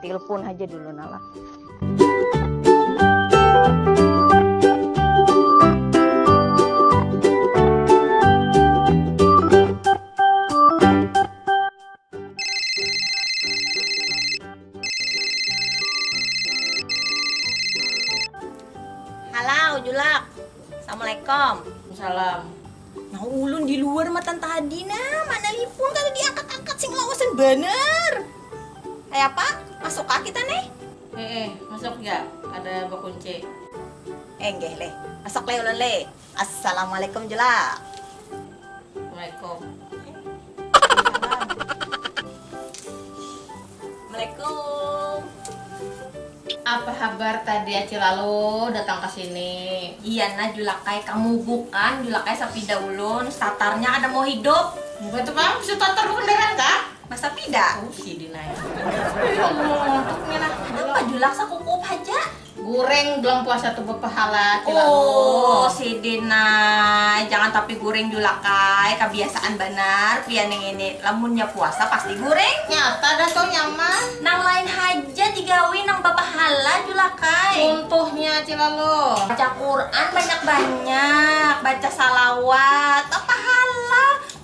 Telepon aja dulu Nala. Halo Julak, Assalamualaikum. Salam. Nah ulun di luar matan tadi nah mana lipun kada diangkat angkat sing lawasan banar. Kaya apa masuk kah kita neh. Heeh masuk ja kada bakunci. Enggeh leh masuk leh ulun leh. Assalamualaikum jua. Waalaikum. Waalaikumsalam. Assalamualaikum apa habar tadi acil lalu datang ke sini iya nah julakai kamu bukan julakai sapida ulun statarnya kada mau hidup bukan tu pang bisa statar bekendaraan kah nah sapida oh sidin ai ya allah apa julak sakukup haja. Gureng bulan puasa tu bepahala cilalu. Oh, sidin nah. Jangan tapi gureng julak ai, kabiasaan banar pian yang ini. Lamunnya puasa pasti gureng. Nyata dah tu nya mah. Nang lain haja digawi nang bapahala julak ai. Cuntuhnya cilalu. Baca Quran banyak-banyak, baca salawat, bapahala.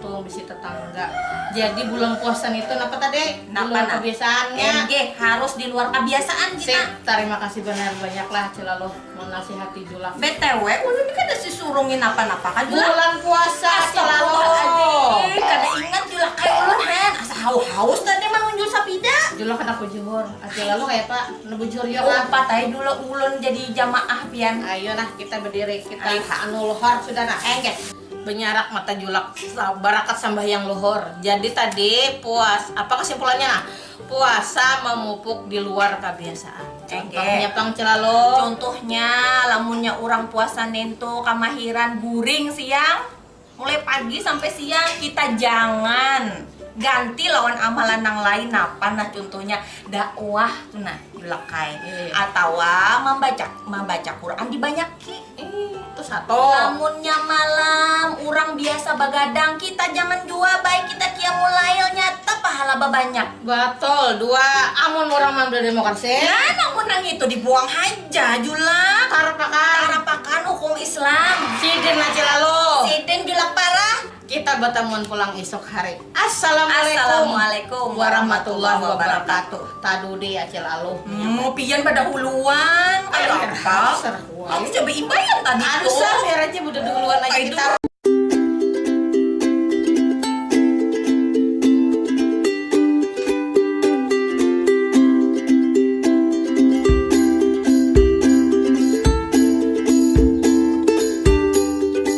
Tuh bisi tetangga. Jadi bulan puasa nitu napa tadi? Napa luar nah? kebiasaannya. Enggih, harus di luar kebiasaan kita. Sip, tarima kasih benar banyaklah Cilaluh menasihati Julak. BTW, ulun kada sisurungin napa-napa ka Julak. Bulan puasa Cilaluh. Kada ingat Julak kaya ulun hen. Asa haus-haus tadi manunjul sapida. Julak kada kujur. Cilaluh kaya apa? Nah bujur yo kah? Umpat ae dulu ulun jadi jamaah pian. Ayo nah kita berdiri, kita anulhor sudah nah. Enggih. Benyarak mata julak barakat sambahyang luhur. Jadi tadi puas apa kesimpulannya nah? Puasa memupuk di luar kabiasaan. Contohnya pang celalo. Contohnya lamunnya urang puasa nintu kamahiran guring siang mulai pagi sampai siang kita jangan ganti lawan amalan nang lain napa nah contohnya dakwah tu nah julak ai atawa mambaca mambaca Quran dibanyaki. Itu satu. Lamunnya malam urang biasa bagadang kita jangan jua baik kita qiyamul lail nyata pahala babanyak. Betul dua amun urang mambela demokrasi. Nah namun nang itu dibuang haja julak. Tarapakan. Tarapakan hukum islam. Sidin laci lalu. Sidin julak parah. Kita batamuan pulang isuk hari. Assalamualaikum warahmatullahi wabarakatuh. Tadudi Acil Aluh menyahut. Mu pian badahuluan. Ai Arhab, aku ja baimbaian tadi tu. Anu sah, biar aja badadahuluan aja kita.